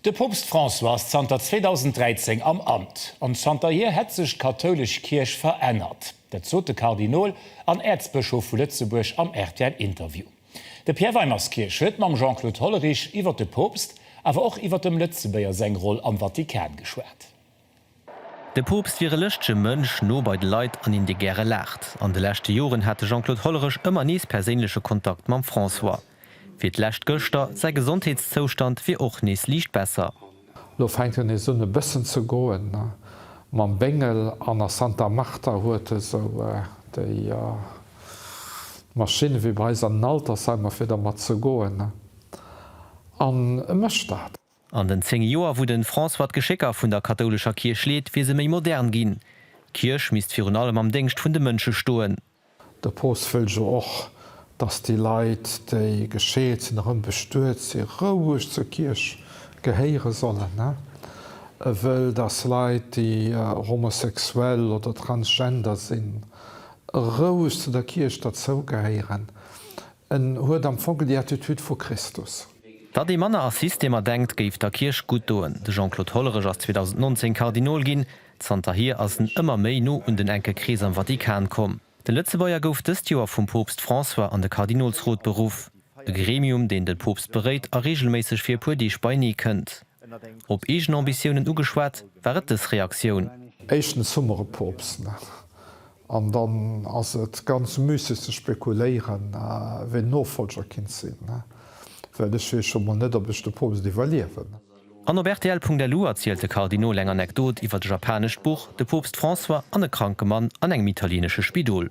De Poopst François ass zanter 2013 am Amt, an zanterhier hätt sech d'kathoulesch Kierch verännert. Dat sot de Kardinol an Äerzbëschof vu Lëtzebuerg am RTL-Interview. De Pierre Weimerskirch huet mam Jean-Claude Hollerich iwwer de Poopst, awer och iwwer dem Lëtzebuerger seng Roll am Vatikan geschwat. De Poopst wier e lëschtege Mënsch, no bei de Leit an een, dee gäre laacht. An de leschte Joren hat de Jean-Claude Hollerich ëmmer nees perséinleche Kontakt mam François. Fir d'lescht gëschter, säi Gesondheetszoustand wier och nees liicht besser. Lo fänkt en esou un e bëssen ze goen. Mam Béngel an a Santa Marta huet e sou déi Maschinne wéi bei eis an den Altersheimer, fir dermat ze goen. An e mécht dat. An den zéng Joer, wou de François d'Geschécker vun der kathoulescher Kierch leet, wier se méi modern ginn. D'Kierch misst virun allem am Déngscht vun de Mënsche stoen. De Poopst wëll jo och, datt déi Leit, déi gescheet sinn, erëm bestuet si roueg zur Kierch gehéiere sollen. E wëll, datt Leit, déi homosexuell oder transgender sinn, roueg zu der Kierch derzougehéieren. En huet am Fong déi Attitude vu Christus. Datt ee manner a Systemer denkt, géif der Kierch gutt doen. De Jean-Claude Hollerich ass 2019 Kardinol ginn. Zanterhier ass en ëmmer méi no un den enke Krees am Vatikan komm. Den Lëtzebuerger gouf dëst Joer vum Poopst François an de Kardinolsrot beruff, e Gremium, deen de Poopst beréit a reegelméisseg fir e puer Deeg beineekënnt. Op eegen Ambitiounen ugeschwat, war et dës Reaktioun. Éischtens hu mer e Poopst nach, an dann ass et ganz müsseg ze spekuléieren, wien Nofollger kinnt sinn, well ech weess scho mol net, ob ech de Poopst iwwerliewen. An op rtl.lu erzielt de Kardinol eng Anekdot iwwert e japanescht Buch, de Poopst François an e kranke Mann an engem italienesche Spidol.